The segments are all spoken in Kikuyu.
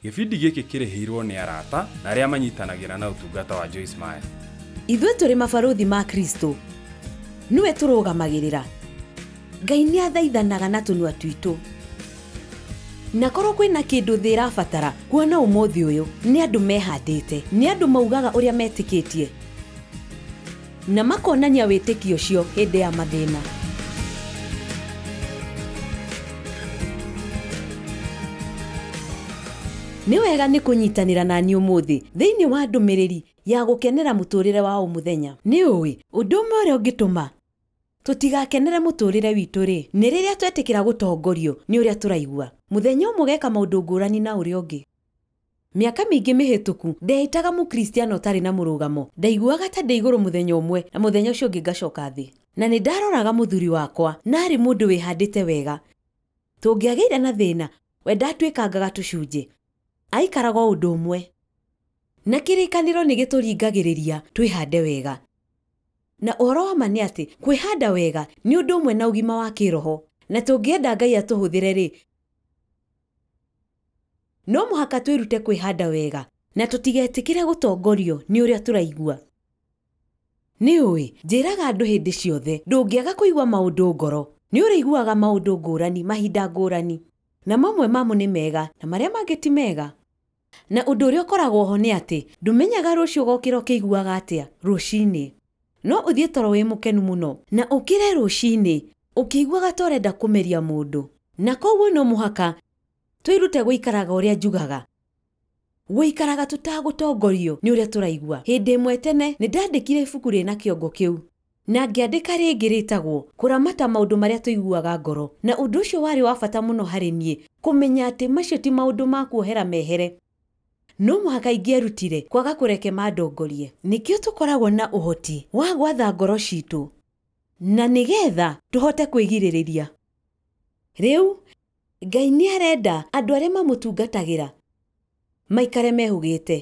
Gĩbindi gĩkĩ kĩrĩhĩirwo nĩ arata na arĩa manyitanagĩra na ũtungata wa Joyce Meyer. Ithuĩ tũrĩ mabarũthi ma Kristo. Nĩwe tũrũgamagĩrĩra. Ngai nĩathaithanaga na tũnua twitũ. Na korwo kwĩna kĩndũ thĩ ĩrabatara kuona ũmũthĩ ũyũ, nĩ andũ mehandĩte, nĩ andũ maugaga ũrĩa metĩkĩtie. Na makonania wĩtĩkio ũcio hĩndĩ ya mathĩna. Nĩ wega nĩ kũnyitanĩra na niĩ ũmũthĩ thĩinĩ wa ndũmĩrĩri ya gũkenera mũtũũrĩre wa o mũthenya. Nĩ ũĩ, ũndũ ũmwe ũrĩa ũngĩtũma tũtigakenere mũtũũrĩre witũ-rĩ, nĩ rĩrĩa twetĩkĩra gũtongorio nĩ ũrĩa tũraigua. Mũthenya ũmwe ũgeka maũndũ ngũrani na ũrĩa ũngĩ. Mĩaka mĩingĩ mĩhĩtũku, ndeeĩtaga Mũkristiano ũtarĩ na mũrũgamo. Ndaiguaga ta ndĩ igũrũ mũthenya ũmwe, na mũthenya ũcio ũngĩ ngacoka thĩ. Na nĩ ndaaroraga mũthuri wakwa, na aarĩ mũndũ wĩhandĩte wega. Tũngĩagĩire na thĩna, we ndaatuĩkangaga tũcunjĩ. Aaikaraga o ũndũ ũmwe. Na kĩrĩkanĩro nĩ gĩtũringagĩrĩria twĩhande wega. Na ũhoro wa ma nĩ atĩ, kwĩhanda wega nĩ ũndũ ũmwe na ũgima wa kĩĩroho. Na tũngĩenda Ngai atũhũthĩre-rĩ, No mũhaka twĩrute kwĩhanda wega na tũtigetĩkĩre gũtongorio nĩ ũrĩa tũraigua. Nĩ ũĩ, njĩraga andũ hĩndĩ ciothe, ndũngĩaga kũigua maũndũ ngoro, nĩ ũrĩiguaga maũndũ ngũrani mahinda ngũrani, na mamwe mamo nĩ mega na marĩa mangĩ ti mega. Na ũndũ ũrĩa ũkoragwo ho nĩ atĩ ndũmenyaga rũciũ ũgokĩra ũkĩiguaga atĩa rũcinĩ. No ũthiĩ toro wĩ mũkenu mũno na ũkĩre rũcinĩ ũkĩiguaga ta ũrenda kũmeria mũndũ. Na kwoguo no mũhaka Twĩrute gũikaraga ũrĩa njugaga. Gũikaraga tũtagũtongorio nĩ ũrĩa tũraigua. Hĩndĩ ĩmwe tene, nĩ ndandĩkire ibuku rĩna kĩongo kĩu. Na ngĩandĩka rĩngĩ rĩtagwo Kũramata Maũndũ Marĩa Tũiguaga Ngoro. Na ũndũ ũcio warĩ wa bata mũno harĩ niĩ kũmenya atĩ macio ti maũndũ ma kuohera mehere. No mũhaka ingĩerutire kwaga kũreke mandongorie. Nĩkĩo tũkoragwo na ũhoti wa gwatha ngoro citũ na nĩgetha tũhote kwĩgirĩrĩria. Rĩu, Ngai nĩ arenda andũ arĩa mamũtungatagĩra maikare mehũgĩte,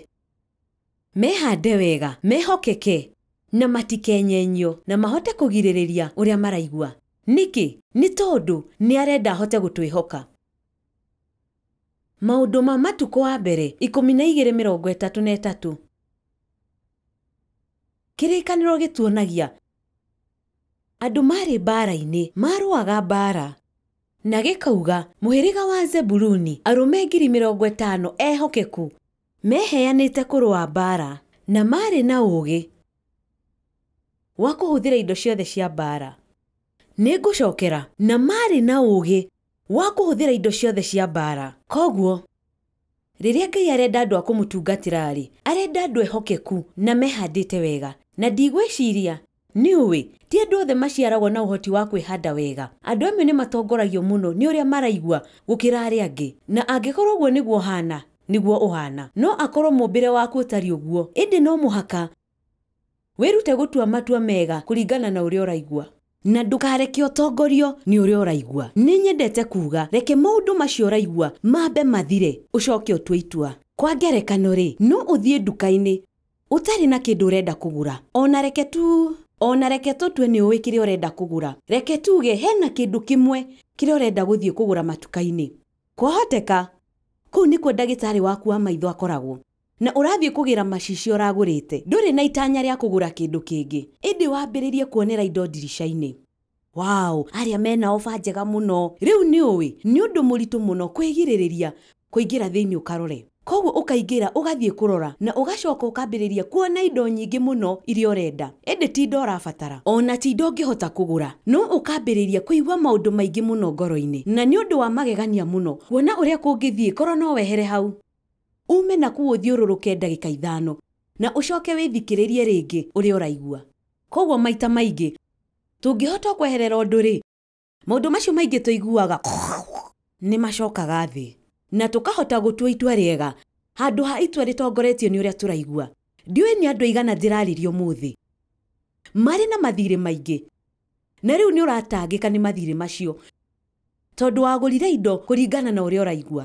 mehande wega, mehokeke, na matikenyenyio, na mahote kũgirĩrĩria ũrĩa maraigua. Nĩkĩ? Nĩ tondũ nĩ arenda ahote gũtwĩhoka. Maũndũ ma Matukũ wa Mbere ikũmi na igĩrĩ mĩrongo ĩtatũ na ĩtatũ. Kĩrĩkanĩro gĩtuonagia andũ maarĩ mbaara-inĩ, maarũaga mbaara. Na gĩkauga, Mũhĩrĩga wa Zebuluni, arũme ngiri mĩrongo ĩtano ehokeku, meheanĩte kũrũa mbaara, na maarĩ na ũũgĩ wa kũhũthĩra indo ciothe cia mbaara. Nĩngũcookera. Na maarĩ na ũũgĩ wa kũhũthĩra indo ciothe cia mbaara. Kwoguo Rĩrĩa Ngai arenda andũ a kũmũtungatĩra-rĩ, arenda andũ ehokeku na mehandĩte wega. Na ndigwĩciria nĩũĩ, ti andũ othe maciaragwo na ũhoti wa kwĩhanda wega. Andũ amwe nĩ matongoragio mũno nĩ ũrĩa maraigua gũkĩra arĩa angĩ. Na angĩkorũo ũguo nĩguo ũhaana, nĩguo ũhaana. No akorũo mũũmbĩre waku ũtariĩ ũguo. Ĩndĩ no mũhaka Wĩrute gũtua matua mega kũringana na ũrĩa ũraigua. Na ndũkareke ũtongorio nĩ ũrĩa ũraigua. Nĩ nyendete kuuga, reke maũndũ macio ũraigua mambe mathire, ũcoke ũtue itua. Kwa ngerekano-rĩ, no ũthiĩ nduka-inĩ ũtarĩ na kĩndũ ũrenda kũgũra. O na reke tu, o na reke tũtue nĩ ũĩ kĩrĩa ũrenda kũgũra. Reke tuuge he na kĩndũ kĩmwe kĩrĩa ũrenda gũthiĩ kũgũra matuka-inĩ. Kwahoteka kũu nĩkuo ndagĩtarĩ waku wa maitho akoragwo. na ũrathiĩ kũgĩra macicio ũragũrĩte, ndũrĩ na itanya rĩa kũgũra kĩndũ kĩngĩ, ĩndĩ wambĩrĩrie kuonera indo ndirica-inĩ. Wow! Arĩa me na ofa njega mũno! Rĩu nĩ ũĩ, nĩ ũndũ mũritũ mũno kwĩgirĩrĩria kũingĩra thĩinĩ ũkarore. Kwoguo ũkaingĩra ũgathiĩ kũrora na ũgacoka ũkambĩrĩria kuona indo nyingĩ mũno iria ũrenda, ĩndĩ ti indo ũrabatara, o na ti indo ũngĩhota kũgũra, no ũkambĩrĩria kũigua maũndũ maingĩ mũno ngoro-inĩ, na nĩ ũndũ wa magegania mũno kuona ũrĩa kũngĩthiĩ korũo no wehere hau. Uume na kũu ũthiũrũrũke ndagĩka ithano, na ũcoke wĩthikĩrĩrie rĩngĩ ũrĩa ũraigua. Kwoguo maita maingĩ, tũngĩhota kweherera ũndũ-rĩ, maũndũ macio maingĩ tũiguaga nĩ macokaga thĩ, na tũkahota gũtua itua rĩega handũ ha itua rĩtongoretio nĩ ũrĩa tũraigua. Ndiũĩ nĩ andũ aigana ndĩrarĩria ũmũthĩ marĩ na mathiirĩ maingĩ. Na rĩu nĩũratangĩka nĩ mathiirĩ macio tondũ wagũrire indo kũringana na ũrĩa ũraigua.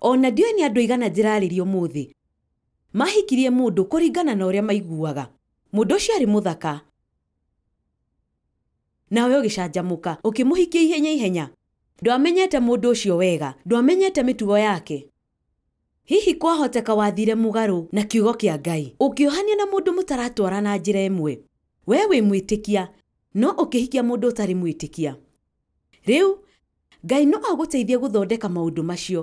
O na ndiũĩ nĩ andũ aigana njĩrarĩria ũmũthĩ mahikirie mũndũ kũringana na ũrĩa maiguaga. Mũndũ ũcio arĩ mũthaka, nawe ũgĩcanjamũka ũkĩmũhikia ihenya ihenya. Ndwamenyete mũndũ ũcio wega, ndwamenyete mĩtugo yake. Hihi kwahoteka wathiire mũgarũ na Kiugo kĩa Ngai, ũkĩohanio na mũndũ mũtaratwarana njĩra ĩmwe? Wee wĩ mwĩtĩkia, no ũkĩhikia mũndũ ũtarĩ mwĩtĩkia. Rĩu, Ngai no agũteithie gũthondeka maũndũ macio,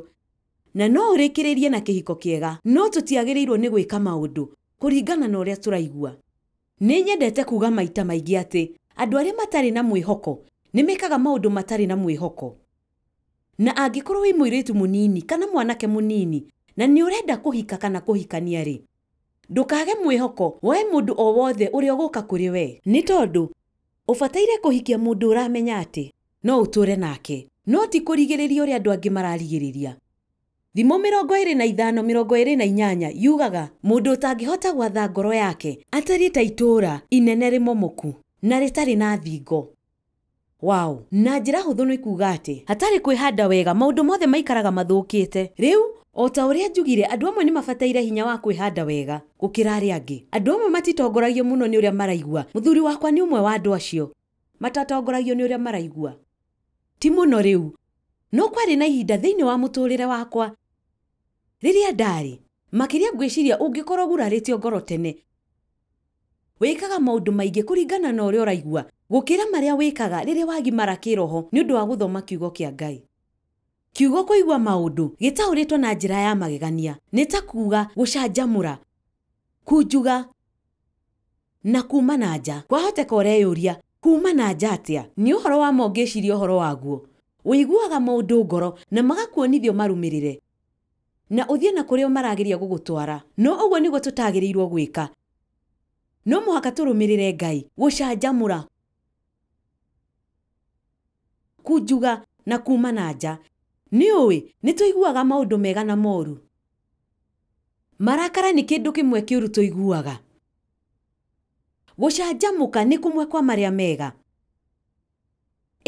na no ũrĩkĩrĩrie na kĩhiko kĩega. No tũtiagĩrĩirũo nĩ gwĩka maũndũ kũringana na ũrĩa tũraigua. Nĩ nyendete kuuga maita maingĩ atĩ andũ arĩa matarĩ na mwĩhoko nĩ mekaga maũndũ matarĩ na mwĩhoko. Na angĩkorwo wĩ mũirĩtu mũnini kana mwanake mũnini na nĩ ũrenda kũhika kana kũhikania-rĩ, ndũkage mwĩhoko woe mũndũ o wothe ũrĩa ũgũka kũrĩ we. Nĩ tondũ ũbataire kũhikia mũndũ ũramenya atĩ no ũtũũre nake, no ti kũrigĩrĩria ũrĩa andũ angĩ mararigĩrĩria. Thimo mĩrongo ĩĩrĩ na ithano mĩrongo ĩĩrĩ na inyanya yugaga, Mũndũ ũtangĩhota gwatha ngoro yake atariĩ ta itũũra inene rĩmomoku na rĩtarĩ na thingo. Wow. Na njĩra hũthũ nĩ kuuga atĩ, hatarĩ kwĩhanda wega, maũndũ mothe maikaraga mathũkĩte. Rĩu, o ta ũrĩa njugire, andũ amwe nĩ mabataire hinya wa kwĩhanda wega gũkĩra arĩa angĩ. Andũ amwe matitongoragio mũno nĩ ũrĩa maraigua. Mũthuri wakwa nĩ ũmwe wa andũ acio. Matatongoragio nĩ ũrĩa maraigua. Ti mũno rĩu. No kwarĩ na ihinda thĩinĩ wa mũtũũrĩre wakwa rĩrĩa ndaarĩ. Makĩria ngwĩciria ũngĩkorũo ũgurarĩtio ngoro tene. Wĩkaga maũndũ maingĩ kũringana na ũrĩa ũraigua gũkĩra marĩa wĩkaga rĩrĩa wagimara kĩĩroho nĩ ũndũ wa gũthoma Kiugo kĩa Ngai. Kiugo kũigua maũndũ gĩtaũrĩtwo na njĩra ya magegania nĩ ta kuuga gũcanjamũra, kunjuga, na kuuma na nja. Kwahoteka ũreyũria, 'Kuuma na nja atĩa? Nĩ ũhoro wa ma ũngĩciria ũhoro waguo? Ũiguaga maũndũ ngoro na magakuonithia ũmarũmĩrĩre? Na ũthiĩ na kũrĩa marageria gũgũtwara. No ũguo nĩguo tũtagĩrĩirũo gwĩka. No mũhaka tũrũmĩrĩre Ngai. Gũcanjamũra. Kũnjuga, na kuuma na nja. Nĩ ũĩ, nĩ tũiguaga maũndũ mega na moru. Marakara nĩ kĩndũ kĩmwe kĩũru tũiguaga. Gũcanjamũka nĩ kũmwe kwa marĩa mega.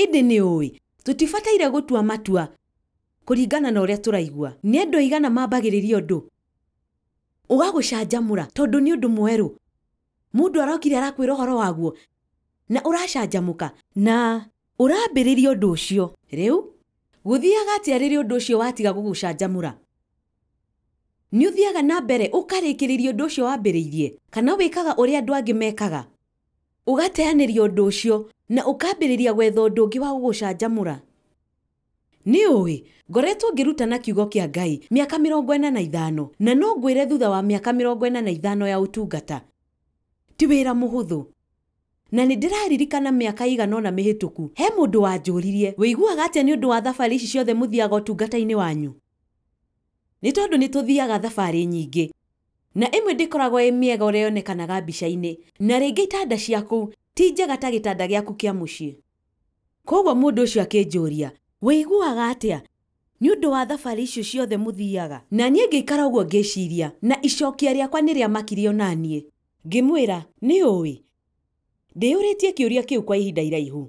Ĩndĩ nĩ ũĩ, tũtibataire gũtua matua Kũringana na ũrĩa tũraigua, nĩ andũ aigana mambagĩrĩria ũndũ ũgagũcanjamũra tondũ nĩ ũndũ mwerũ? Mũndũ arokire arakwĩra ũhoro waguo na ũracanjamũka na ũrambĩrĩria ũndũ ũcio. Rĩu, gũthiaga atĩa rĩrĩa ũndũ ũcio watiga gũgũcanjamũra? Nĩ ũthiaga na mbere ũkarĩkĩrĩria ũndũ ũcio wambĩrĩirie, kana wĩkaga ũrĩa andũ angĩ mekaga, ũgateanĩria ũndũ ũcio na ũkambĩrĩria gwetha ũndũ ũngĩ wa gũgũcanjamũra? Nĩ ũĩ? Ngoretwo ngĩrutana Kiugo kĩa Ngai mĩaka mĩrongo ĩna na ithano, na no ngwĩre thutha wa mĩaka mĩrongo ĩna na ithano ya ũtungata, ti wĩra mũhũthũ. Na nĩ ndĩraririkana mĩaka ĩigana ũna mĩhĩtũku, he mũndũ wanjũririe, 'Wĩiguaga atĩa nĩ ũndũ wa thabarĩ ici ciothe mũthiaga ũtungata-inĩ wanyu? Nĩ tondũ nĩ tũthiaga thabarĩ nyingĩ, na ĩmwe ndĩkoragwo ĩ mĩega ũrĩa yonekanaga mbica-inĩ, na rĩngĩ itanda cia kũu ti njega ta gĩtanda gĩaku kĩa mũciĩ. Kwoguo mũndũ ũcio akĩnjũũria, Wĩiguaga atĩa nĩ ũndũ wa thabarĩ icio ciothe mũthiaga? Na niĩ ngĩikara ũguo ngĩciiria, na icookia rĩakwa nĩrĩamakire o na niĩ. Ngĩmwĩra, Nĩũũĩ, ndĩyũrĩtie kĩũria kĩu kwa ihinda iraihu.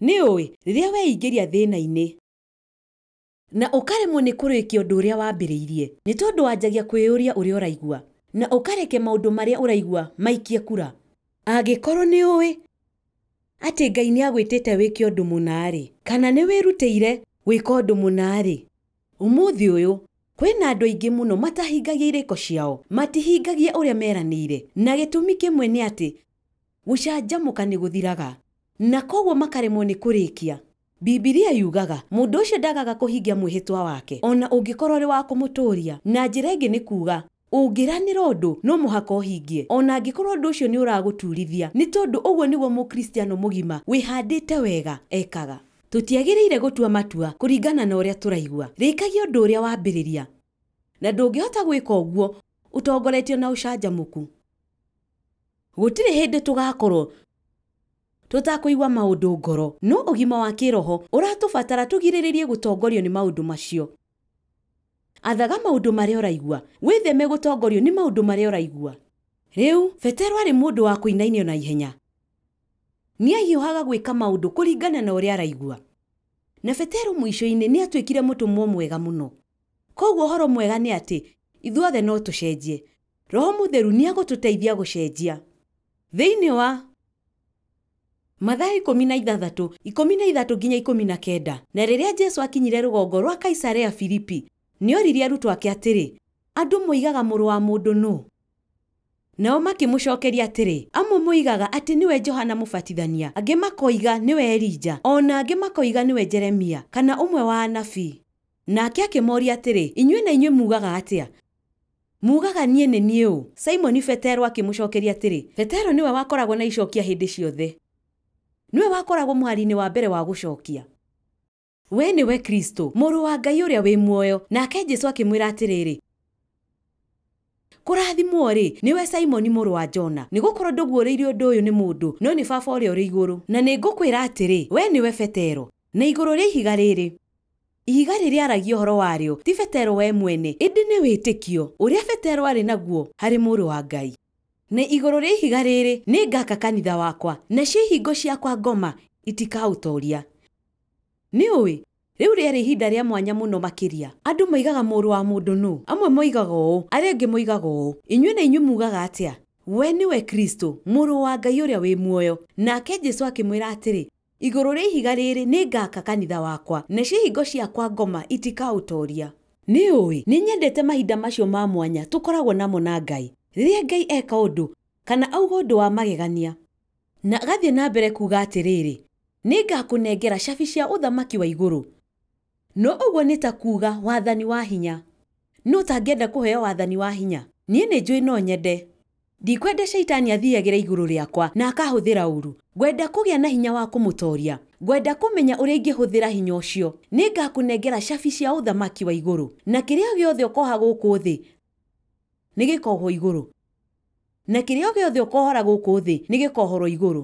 Nĩũũĩ, rĩrĩa weingĩria thĩĩna-inĩ. Na ũkaremwo nĩ kũrĩkia ũndũ ũrĩa wambĩrĩirie nĩ tondũ wanjagia kwĩyũria ũrĩa ũraigua, na ũkareke maũndũ marĩa ũraigua maikie kura? Angĩkorũo nĩ ũĩ atĩ Ngai nĩ agwĩtĩte wĩke ũndũ mũna-rĩ, kana nĩ wĩrutĩire gwĩka ũndũ mũna-rĩ, ũmũthĩ ũyũ kwĩ na andũ aingĩ mũno matahingagia irĩko ciao, matihingagia ũrĩa meranĩire, na gĩtũmi kĩmwe nĩ atĩ gũcanjamũka nĩ gũthiraga, na kwoguo makaremwo nĩ kũrĩkia. Bibilia yugaga, Mũndũ ũcio ndagaga kũhingia mwĩhĩtwa wake, o na ũngĩkorũo ũrĩ wa kũmũtũũria. Na njĩra ĩngĩ nĩ kuuga, ũngĩranĩra ũndũ, no mũhaka ũhingie, o na angĩkorũo ũndũ ũcio nĩ ũragũtuurithia, nĩ tondũ ũguo nĩguo Mũkristiano mũgima wĩhandĩte wega ekaga. Tũtiagĩrĩire gũtua matua kũringana na ũrĩa tũraigua. Rĩkagia ũndũ ũrĩa wambĩrĩria. Na ndũngĩhota gwĩka ũguo ũtongoretio na ũcanjamũku. Gũtirĩ hĩndĩ tũgaakorũo tũtakũigua maũndũ ngoro. No ũgima wa kĩĩroho ũratũbatara tũgirĩrĩrie gũtongorio nĩ maũndũ macio. Athaga maũndũ marĩa ũraigua. Wĩtheme gũtongorio nĩ maũndũ marĩa ũraigua. Rĩu, Petero aarĩ mũndũ wa kũinainio na ihenya. Nĩ aahiũhaga gwĩka maũndũ kũringana na ũrĩa araigua. Na Petero mũico-inĩ nĩ aatuĩkire mũtũmwo mwega mũno. Kwoguo ũhoro mwega nĩ atĩ ithuothe no tũcenjie. Roho Mũtheru nĩ egũtũteithia gũcenjia. Thĩinĩ wa. Mathayo ikũmi na ithathatũ, ikũmi na ithatũ nginya ikũmi na kenda, Na rĩrĩa Jesu akinyire rũgongo rwa Kaisarea Filipi, nĩ oririe arutwo ake atĩrĩ, Andũ moigaga Mũrũ wa mũndũ nũ? Nao makĩmũcokeria atĩrĩ, Amwe moigaga atĩ nĩwe Johana Mũbatithania, angĩ makoiga nĩwe Elija, o na angĩ makoiga nĩwe Jeremia, kana ũmwe wa anabii. Nake akĩmooria atĩrĩ, Inyuĩ na inyuĩ muugaga atĩa? Muugaga niĩ nĩ niĩ ũ? Simoni Petero akĩmũcookeria atĩrĩ, Petero nĩwe wakoragwo na icookia hĩndĩ ciothe. Nĩwe wakoragwo mũhari-inĩ wa mbere wa gũcookia. Wee nĩwe Kristũ, Mũrũ wa Ngai ũrĩa wĩ muoyo. Nake Jesũ akĩmwĩra atĩrĩrĩ, Kũrathimwo-rĩ, nĩwe Simoni mũrũ wa Jona, nĩgũkorwo ndũguũrĩirio ũndũ ũyũ nĩ mũndũ, no nĩ Baba ũrĩa ũrĩ igũrũ. Na nĩngũkwĩra atĩrĩ, Wee nĩwe Petero. Na igũrũ rĩa ihiga rĩrĩ. Ihiga rĩrĩa aaragia ũhoro warĩo ti Petero we mwene, ĩndĩ nĩ wĩtĩkio ũrĩa Petero aarĩ naguo harĩ Mũrũ wa Ngai. Na igũrũ rĩa ihiga rĩrĩ nĩ ngaaka kanitha wakwa, nacio ihingo ciakwa ngoma itikaũtooria. Nĩũĩ, rĩu rĩarĩ ihinda rĩa mwanya mũno makĩria. Andũ moigaga Mũrũ wa mũndũ nũ? Amwe moigaga ũũ, arĩa angĩ moigaga ũũ. Inyuĩ na inyuĩ muugaga atĩa? We nĩwe Kristo, Mũrũ wa Ngai ũrĩa wĩ muoyo. Nake Jesu akĩmwĩra atĩrĩ, Igũrũ rĩa ihiga rĩĩrĩ nĩngaaka kanitha wakwa, nacio ihingo cia kwa ngoma itikaũtooria. Nĩũũĩ, nĩnyendete mahinda macio ma mwanya tũkoragwo namo na Ngai, rĩrĩa Ngai eka ũndũ, kana auga ũndũ wa magegania, na agathiĩ na mbere kuuga atĩrĩĩrĩ, Nĩngakũnengera cabi cia ũthamaki wa igũrũ, No ũguo nĩ ta kuuga wathani wa hinya. Nũ ũtangĩenda kũheo wathani wa hinya? Niĩ nĩ njũĩ no nyende. Ndikwenda Shaitani athiiagĩre igũrũ rĩakwa na akahũthĩra ũũru. Ngwenda kũgĩa na hinya wa kũmũtooria. Ngwenda kũmenya ũrĩa ingĩhũthĩra hinya ũcio. Nĩ ngaakũnengera cabi cia Ũthamaki wa igũrũ, na kĩrĩa gĩothe ũkooha gũkũ thĩ nĩ gĩkoohwo igũrũ, na kĩrĩa gĩothe ũkoohora gũkũ thĩ nĩ gĩkoohorũo igũrũ.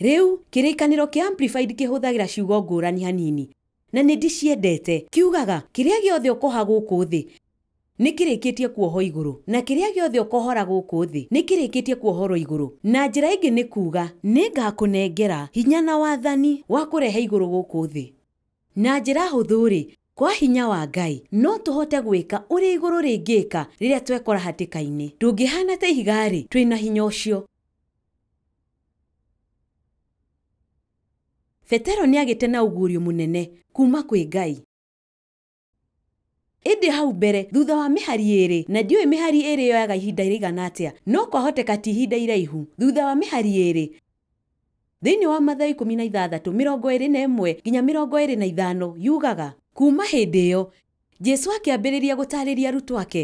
Rĩu, Kĩrĩkanĩro kĩa Amplified kĩhũthagĩra ciugo ngũrani hanini. Na nĩ ndĩciendete. Kiugaga, Kĩrĩa gĩothe ũkoha gũkũ thĩ, nĩ kĩrĩkĩtie kuohwo igũrũ, na kĩrĩa gĩothe ũkohora gũkũ thĩ, nĩ kĩrĩkĩtie kuohorũo igũrũ. Na njĩra ĩngĩ nĩ kuuga, Nĩ ngaakũnengera hinya na wathani wa kũrehe igũrũ gũkũ thĩ. Na njĩra hũthũ-rĩ, kwa hinya wa Ngai, no tũhote gwĩka ũrĩa igũrũ rĩngĩka rĩrĩa twekora hatĩka-inĩ. Tũngĩhaana ta ihiga-rĩ, twĩ na hinya ũcio. Petero nĩagĩte na ũguũrio mũnene kuuma kwĩ Ngai. Ĩndĩ hau mbere, thutha wa mĩhari ĩĩrĩ, na ndiũĩ mĩhari ĩĩrĩ yoyaga ihinda rĩigana atĩa, no kwahoteka ti ihinda iraihu, thutha wa mĩhari ĩĩrĩ, thĩinĩ wa Mathayo ikũmi na ithathatũ, mĩrongo ĩĩrĩ na ĩmwe nginya mĩrongo ĩĩrĩ na ithano, yugaga, Kuuma hĩndĩ ĩyo, Jesu akĩambĩrĩria gũtaarĩria arutwo ake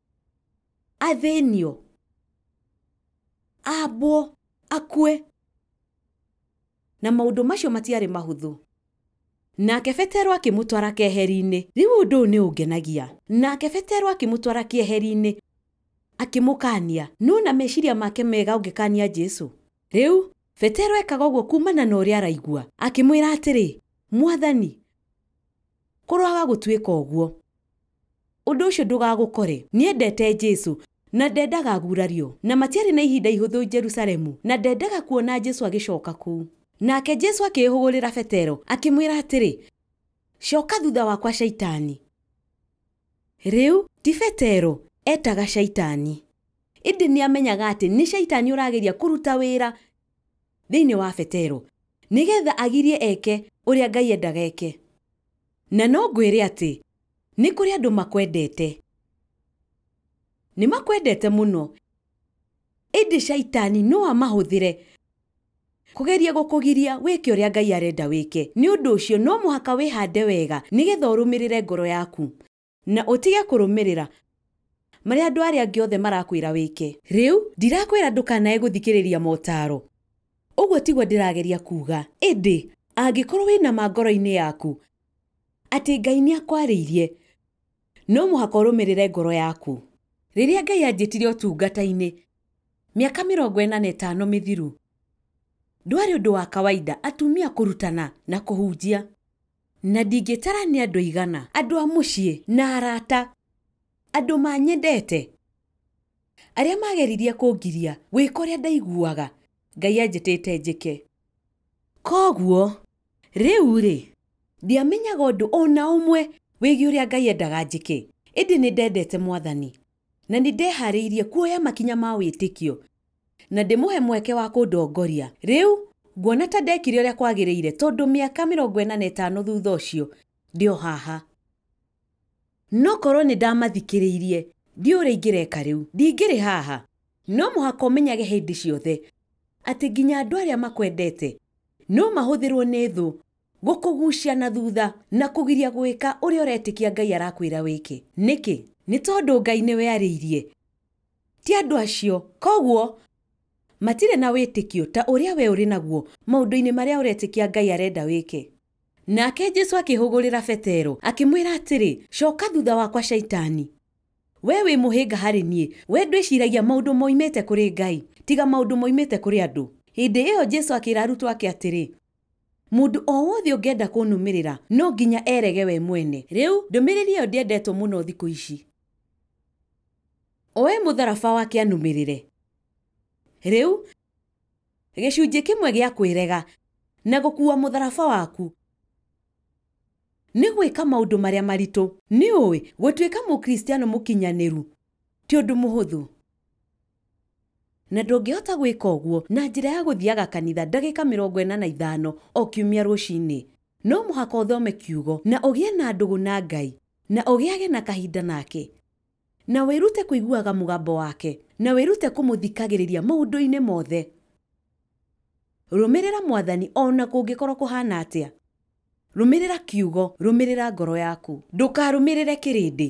athĩnio ambwo akue na maũndũ macio matiarĩ mahũthũ nake betero akĩmũtwara keheri-inĩ rĩu ũndũ ũyũ nĩ ũngenagia nake betero akĩmũtwara keheri-inĩ akĩmũkania no na meciria make mega ũngĩkania jesu rĩu betero ekaga ũguo kumana na ũrĩa araigua akĩmwĩra atĩrĩ mwathani kũroaga gũtuĩka ũguo Ũndũ ũcio ndũgagũkore. Nĩendete Jesu, na ndendaga agurario. Na matiarĩ na ihinda ihũthũ Jerusalemu, na ndendaga kuona Jesu agĩcoka kũu. Nake Jesu akĩĩhũgũrĩra Petero, akĩmwĩra atĩrĩ, Coka thutha wakwa Shaitani. Rĩu, ti Petero eetaga Shaitani. Ĩndĩ nĩamenyaga atĩ nĩ Shaitani ũrageria kũruta wĩra thĩinĩ wa Petero, nĩgeetha agirie eke ũrĩa Ngai endaga eke. Na no ngwĩre atĩ nĩ kũrĩ andũ makwendete. Nĩ makwendete mũno. Ĩndĩ Shaitani no amahũthĩre kũgeria gũkũgiria wĩke ũrĩa Ngai arenda wĩke. Nĩ ũndũ ũcio no mũhaka wĩhande wega nĩgetha ũrũmĩrĩre ngoro yaku. Na ũtige kũrũmĩrĩra. Marĩa andũ arĩa angĩ othe marakwĩra wĩke. Rĩu, ndirakwĩra ndũkanae gũthikĩrĩria motaaro. Ũguo tiguo ndĩrageria kuuga. Ĩndĩ, angĩkorũo wĩ na ma ngoro-inĩ yaku, atĩ Ngai nĩ akwarĩirie, no mũhaka ũrũmĩrĩre ngoro yaku. Rĩrĩa Ngai anjĩtire ũtungata-inĩ, mĩaka mĩrongo ĩna na ĩtano mĩthiru, ndwarĩ ũndũ wa kawaida atumia kũrutana na kũhunjia. Na ndingĩtara nĩ andũ aigana. Andũ a mũciĩ, na arata. Andũ maanyendete. Arĩa maageririe kũngiria. Gwĩka ũrĩa ndaiguaga. Ngai anjĩtĩte njĩke. Kwoguo, rĩu-rĩ. Ndiamenyaga ũndũ o na ũmwe. Wĩgiĩ ũrĩa Ngai endaga njĩke. Ĩndĩ nĩ ndendete Mwathani. Na nĩ ndehaarĩirie kuoya makinya ma wĩtĩkio, na ndĩmũhe mweke wa kũndongoria. Rĩu, nguona ta ndekire ũrĩa kwagĩrĩire, tondũ mĩaka mĩrongo ĩna na ĩtano thutha ũcio, ndĩ o haha. No korũo nĩ ndamathikĩrĩirie, ndiũĩ ũrĩa ingĩreka rĩu. Ndingĩrĩ haha. No mũhaka ũmenyage hĩndĩ ciothe atĩ nginya andũ arĩa makwendete no mahũthĩrũo nĩ thũ Gũkũgucia na thutha na kũgiria gũĩka ũrĩa ũretĩkia Ngai arakwĩra wĩke. Nĩkĩ? Nĩ tondũ Ngai nĩwe arĩirie, ti andũ acio. Kwoguo matirĩ na wĩtĩkio ta ũrĩa wee ũrĩ naguo maũndũ-inĩ marĩa ũretĩkia Ngai arenda wĩke. Nake Jesu akĩhũgũrĩra Petero, akĩmwĩra atĩrĩ, Coka thutha wakwa Shaitani! Wee wĩ mũhĩnga harĩ niĩ, wee ndwĩciragia maũndũ moimĩte kũrĩ Ngai, tiga maũndũ moimĩte kũrĩ andũ. Hĩndĩ ĩyo Jesu akĩra arutwo ake atĩrĩ, Mũndũ o wothe ũngĩenda kũnũmĩrĩra, no nginya erege we mwene. Rĩu, ndũmĩrĩri ĩyo ndĩendetwo mũno thikũ ici. Oe mũtharaba wake anũmĩrĩre. Rĩu, gĩcunjĩ kĩmwe gĩa kwĩrega na gũkuua mũtharaba waku nĩ gwĩka maũndũ marĩa maritũ. Nĩũĩ, gũtuĩka Mũkristiano mũkinyanĩru ti ũndũ mũhũthũ. Na ndũngĩhota gwĩka ũguo na njĩra ya gũthiaga kanitha ndagĩka mĩrongo ĩna na ithano o kiumia rũcinĩ. No mũhaka ũthome Kiugo, na ũgĩe na ndũgũ na Ngai, na ũgĩage na kahinda nake, na wĩrute kũiguaga mũgambo wake, na wĩrute kũmũthikagĩrĩria maũndũ-inĩ mothe. Rũmĩrĩra Mwathani o na kũngĩkorũo kũhaana atĩa. Rũmĩrĩra Kiugo. Rũmĩrĩra ngoro yaku. Ndũkarũmĩrĩre kĩrĩndĩ.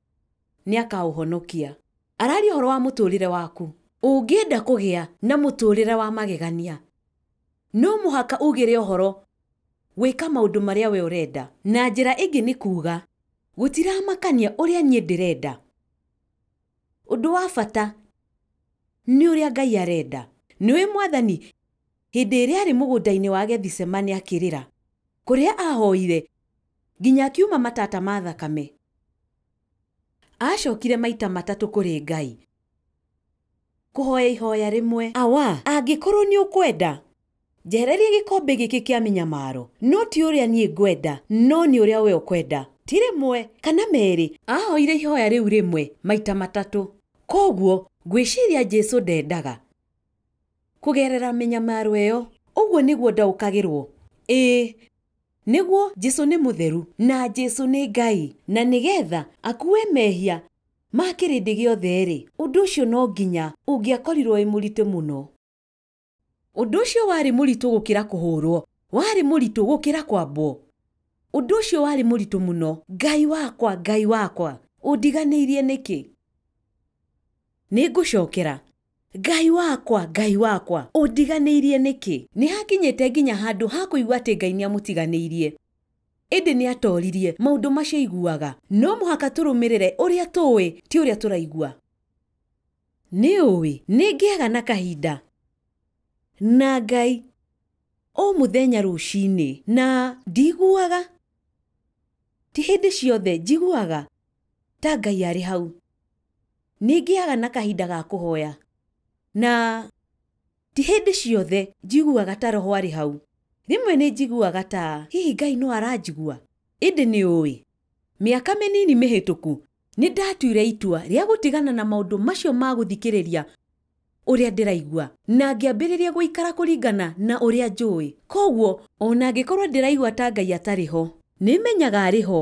nĩakaũhonokia. Araria ũhoro wa mũtũũrĩre waku. Ũngĩenda kũgĩa na mũtũũrĩre wa magegania, no mũhaka ugĩre ũhoro gwĩka maũndũ marĩa wee ũrenda. Na njĩra ĩngĩ nĩ kuuga, gũtiramakania ũrĩa niĩ ndĩrenda. Ũndũ wa bata nĩ ũrĩa Ngai arenda. Nĩũĩ Mwathani? Hĩndĩ ĩrĩa arĩ mũgũnda-inĩ wa Gethisemane akĩrĩra, kũrĩa aahoire nginya akiuma matata ma thakame, aacokire maita matatũ kũrĩ Ngai kũhoya ihoya rĩmwe. Awa, angĩkorwo nĩ ũkwenda, njehereria gĩkombe gĩkĩ kĩa mĩnyamaro, no ti ũrĩa niĩ ngwenda, no nĩ ũrĩa wee ũkwenda. Ti rĩmwe, kana merĩ, aahoire ihoya rĩu rĩmwe maita matatũ. Kwoguo ngwĩciria Jesu ndendaga. Kũgerera mĩnyamaro ĩyo, ũguo nĩguo ndaũkagĩrũo. Ĩĩ. Nĩguo, Jesu nĩ mũtheru, na Jesu nĩ Ngai, na nĩgetha akuue mehia ma kĩrĩndĩ gĩothe-rĩ, ũndũ ũcio no nginya ũngĩakorirũo wĩ mũritũ mũno. Ũndũ ũcio warĩ mũritũ gũkĩra kũhũũrũo, warĩ mũritũ gũkĩra kwambwo. Ũndũ ũcio warĩ mũritũ mũno. Ngai wakwa, Ngai wakwa, ũndiganĩirie nĩkĩ? Nĩ ngũcokera. Ngai wakwa, Ngai wakwa, ũndiganĩirie nĩkĩ? Nĩ aakinyĩte nginya handũ ha kũigua atĩ Ngai nĩ amũtiganĩirie. Ĩndĩ nĩ atooririe, Maũndũ macio aiguaga. No mũhaka tũrũmĩrĩre ũrĩa tũũĩ, ti ũrĩa tũraigua. Nĩ ũũĩ, nĩ ngĩaga na kahinda na Ngai o mũthenya rũcinĩ, na ndiiguaga. Ti hĩndĩ ciothe njiguaga ta Ngai arĩ hau. Nĩ ngĩaga na kahinda ga kũhoya, na ti hĩndĩ ciothe njiguaga ta roho arĩ hau. Rĩmwe nĩ njiguaga ta hihi Ngai no aranjigua. Ĩndĩ nĩ ũĩ, mĩaka mĩnini mĩhĩtũku nĩ ndatuire itua rĩa gũtigana na maũndũ macio ma gũthikĩrĩria ũrĩa ndĩraigua na ngĩambĩrĩria gũikara kũringana na ũrĩa njũĩ. Kwoguo o na angĩkorũo ndĩraigua ta Ngai atarĩ ho, nĩ menyaga arĩ ho.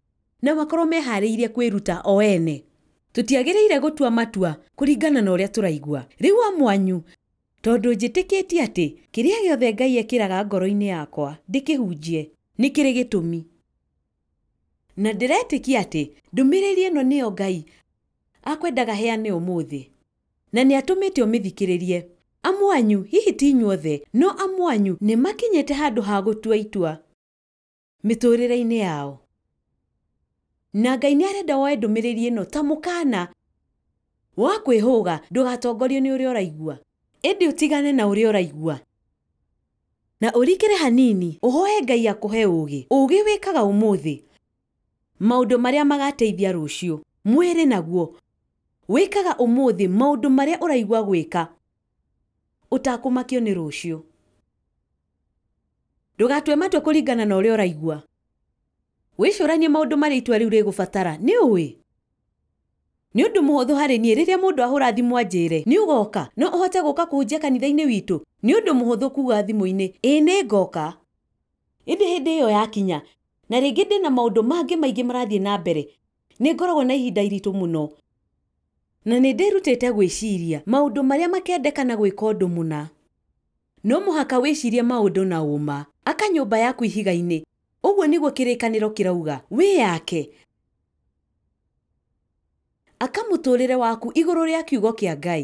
Na makorũo mehaarĩirie kwĩruta o ene. Tũtiagĩrĩire gũtua matua kũringana na ũrĩa tũraigua. Rĩu amu anyu. Tondũ njĩtĩkĩtie atĩ kĩrĩa gĩothe Ngai ekĩraga ngoro-inĩ yakwa ndĩkĩhunjie, nĩ kĩrĩ gĩtũmi. Na ndĩretĩkia atĩ ndũmĩrĩri ĩno nĩyo Ngai akwendaga heane ũmũthĩ. Na nĩ atũmĩte ũmĩthikĩrĩrie. Amu anyu, hihi ti inyuothe, no amu anyu nĩ makinyĩte handũ ha gũtua itua. mĩtũrĩre-inĩ yao. Na Ngai nĩ arenda woe ndũmĩrĩri ĩno ta mũkaana wa kwĩhũga ndũgatongorio nĩ ũrĩa ũraigua, ĩndĩ ũtigane na ũrĩa ũraigua, na ũrikĩre hanini ũhoe Ngai akũhe ũũgĩ, ũũgĩ wĩkaga ũmũthĩ maũndũ marĩa magateithia rũciũ, mwĩrĩ naguo wĩkaga ũmũthĩ maũndũ marĩa ũraigua gwĩka Ũtakũmakio nĩ rũciũ. Ndũgatue matua kũringana na ũrĩa ũraigua. Wĩcũranie maũndũ marĩa itua rĩu rĩgũbatara. Nĩ ũĩ? Nĩ ũndũ mũhũthũ harĩ niĩ rĩrĩa mũndũ ahũra thimũ anjĩre, Nĩ ũgoka? No ũhote gũka kũhunjia kanitha-inĩ witũ? Nĩ ũndũ mũhũthũ kuuga thimũ-inĩ, Ĩĩ nĩ ngoka. Ĩndĩ hĩndĩ ĩyo yakinya, na rĩngĩ ndĩ na maũndũ mangĩ maingĩ marathiĩ na mbere, Nĩ ngoragwo na ihinda iritũ mũno, na nĩ ndĩrutĩte gwĩciria maũndũ marĩa makendekana gwĩka ũndũ mũna. No mũhaka wĩcirie maũndũ na ũũma. Aka nyũmba yaku ihiga-inĩ, ũguo nĩguo kĩrĩkanĩro kĩrauga. Wĩyake. Aka mũtũũrĩre waku igũrũ rĩa Kiugo kĩa Ngai.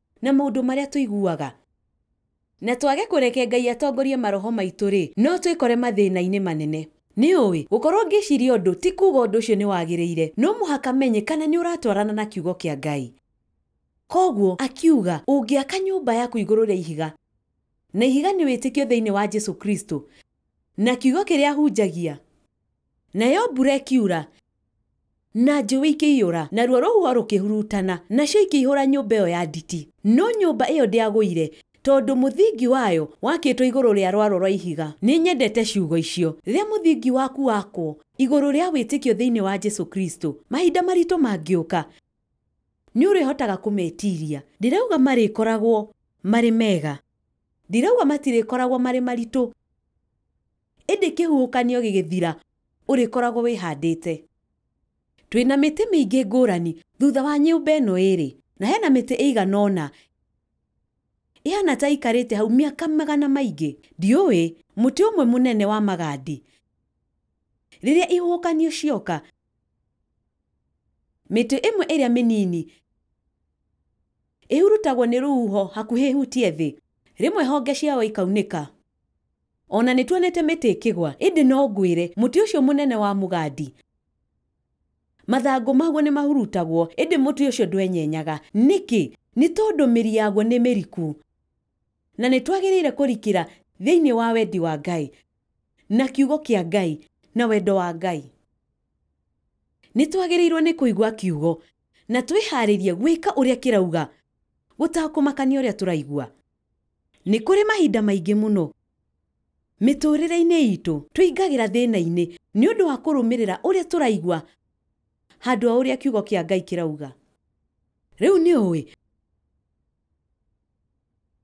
Na maũndũ marĩa tũiguaga. Na twage kũreke Ngai atongorie maroho maitũ-rĩ, no twĩkore mathĩna-inĩ manene. Nĩũĩ, gũkorũo ngĩciria ũndũ ti kuuga ũndũ ũcio nĩ wagĩrĩire. No mũhaka menye kana nĩ ũratwarana na Kiugo kĩa Ngai. Kwoguo, akiuga, ũngĩaka nyũmba yaku igũrũ rĩa ihiga, na ihiga nĩ wĩtĩkio thĩinĩ wa Jesu Kristo, na Kiugo kĩrĩa hunjagia, Nayo mbura ĩkiura, na njũĩ ikĩiyũra, naruo rũhuho rũkĩhurutana, nacio ikĩihũra nyũmba ĩyo ya nditi. No nyũmba ĩyo ndĩagũire, tondũ mũthingi wayo wakĩtwo igũrũ rĩa rwaro rwa ihiga. Nĩ nyendete ciugo icio. Rĩrĩa mũthingi waku wakwo igũrũ rĩa wĩtĩkio thĩinĩ wa Jesu Kristo, mahinda maritũ mangĩũka, nĩ ũrĩhotaga kũmetiria. Ndirauga marĩkoragwo marĩ mega. Ndirauga matirĩkoragwo marĩ maritũ. Ĩndĩ kĩhuhũkanio gĩgĩthira, ũrĩkoragwo wĩhandĩte. Twĩ na mĩtĩ mĩingĩ ngũrani thutha wa nyũmba ĩno ĩĩrĩ, na he na mĩtĩ ĩigana ũna ĩhaana ta ĩikarĩte hau mĩaka magana maingĩ. Ndiũĩ, mũtĩ ũmwe mũnene wa magandi, rĩrĩa ihuhũkanio cioka, mĩtĩ ĩmwe ĩrĩa mĩnini ĩhurutagwo nĩ rũhuho hakuhĩ ĩhutie thĩ, rĩmwe honge ciayo ikaunĩka. O na nĩtuonete mĩtĩ ĩkĩgwa, ĩndĩ no ngwĩre, mũtĩ ũcio mũnene wa mũgandi, mathangũ maguo nĩmahurutagwo, ĩndĩ mũtĩ ũcio ndwenyenyaga. Nĩkĩ? Nĩ tondũ mĩri yaguo nĩ mĩriku. Na nĩtwagĩrĩire kũrikĩra thĩinĩ wa wendi wa Ngai, na Kiugo kĩa Ngai, na wendo wa Ngai. Nĩtwagĩrĩirwo nĩ kũigua Kiugo, na twĩharĩrie gwĩka ũrĩa kĩrauga, gũtakũmakania ũrĩa tũraigua. Nĩ kũrĩ mahinda maingĩ mũno mĩtũũrĩre-inĩ itũ tũingagĩra thĩna-inĩ nĩ ũndũ wa kũrũmĩrĩra ũrĩa tũraigua handũ ha ũrĩa Kiugo kĩa Ngai kĩrauga. Rĩu nĩ ũĩ,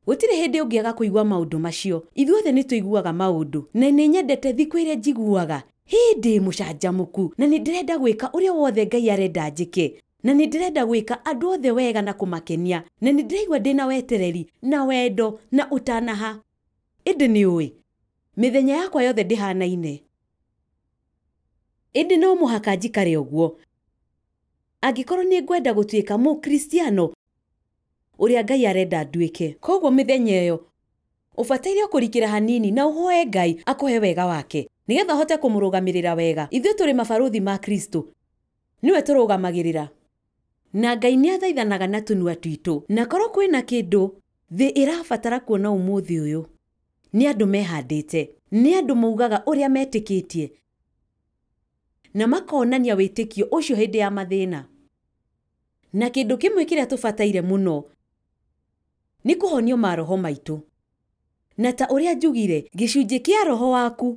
gũtirĩ hĩndĩ ũngĩaga kũigua maũndũ macio. Ithuothe nĩ tũiguaga maũndũ. Na nĩ nyendete thikũ ĩrĩa njiguaga, Hĩ! Ndĩ mũcanjamũku, na nĩ ndĩrenda gwĩka ũrĩa wothe Ngai arenda njĩke. Na nĩ ndĩrenda gwĩka andũ othe wega na kũmakenia, na nĩ ndĩraigua ndĩ na wetereri, na wendo, na ũtanaha. Ĩndĩ nĩ ũĩ, mĩthenya yakwa yothe ndĩhaanaine. Ĩndĩ no mũhaka njikare ũguo, angĩkorũo nĩ ngwenda gũtuĩka Mũkristiano ũrĩa Ngai arenda nduĩke. Kwoguo mĩthenya ĩyo, ũbataire o kũrikĩra hanini na ũhoe Ngai akũhe wega wake, nĩgetha ũhote kũmũrũgamĩrĩra wega. Ithuĩ tũrĩ mabarũthi ma Kristo. Nĩwe tũrũgamagĩrĩra. Na Ngai nĩathaithanaga na tũnua twitũ. Na korwo kwĩ na kĩndũ thĩ ĩrabatara kuona ũmũthĩ ũyũ, nĩ andũ mehandĩte. Nĩ andũ maugaga ũrĩa metĩkĩtie, na makonania wĩtĩkio ũcio hĩndĩ ya mathĩna. Na kĩndũ kĩmwe kĩrĩa tũbataire mũno nĩ kũhonio maroho maitũ. Na ta ũrĩa njugire, gĩcunjĩ kĩa roho waku.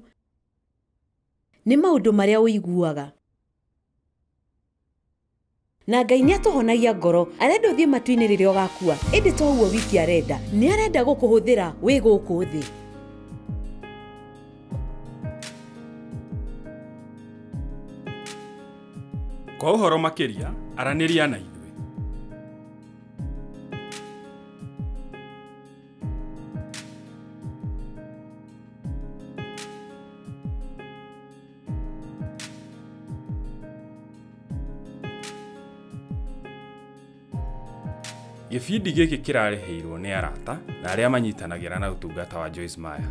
Nĩ maũndũ marĩa ũiguaga. Na Ngai nĩ atũhonagia ngoro. Arenda ũthiĩ matu-inĩ rĩrĩa ũgakua. Ĩndĩ to ũguo wiki arenda. Nĩ arenda gũkũhũthĩra wĩ gũkũ thĩ. Kwa ũhoro makĩria, aranĩria na ithuĩ. Gĩbindi gĩkĩ kĩrarĩhĩirwo nĩ arata na arĩa manyitanagĩra na ũtungata wa Joyce Meyer.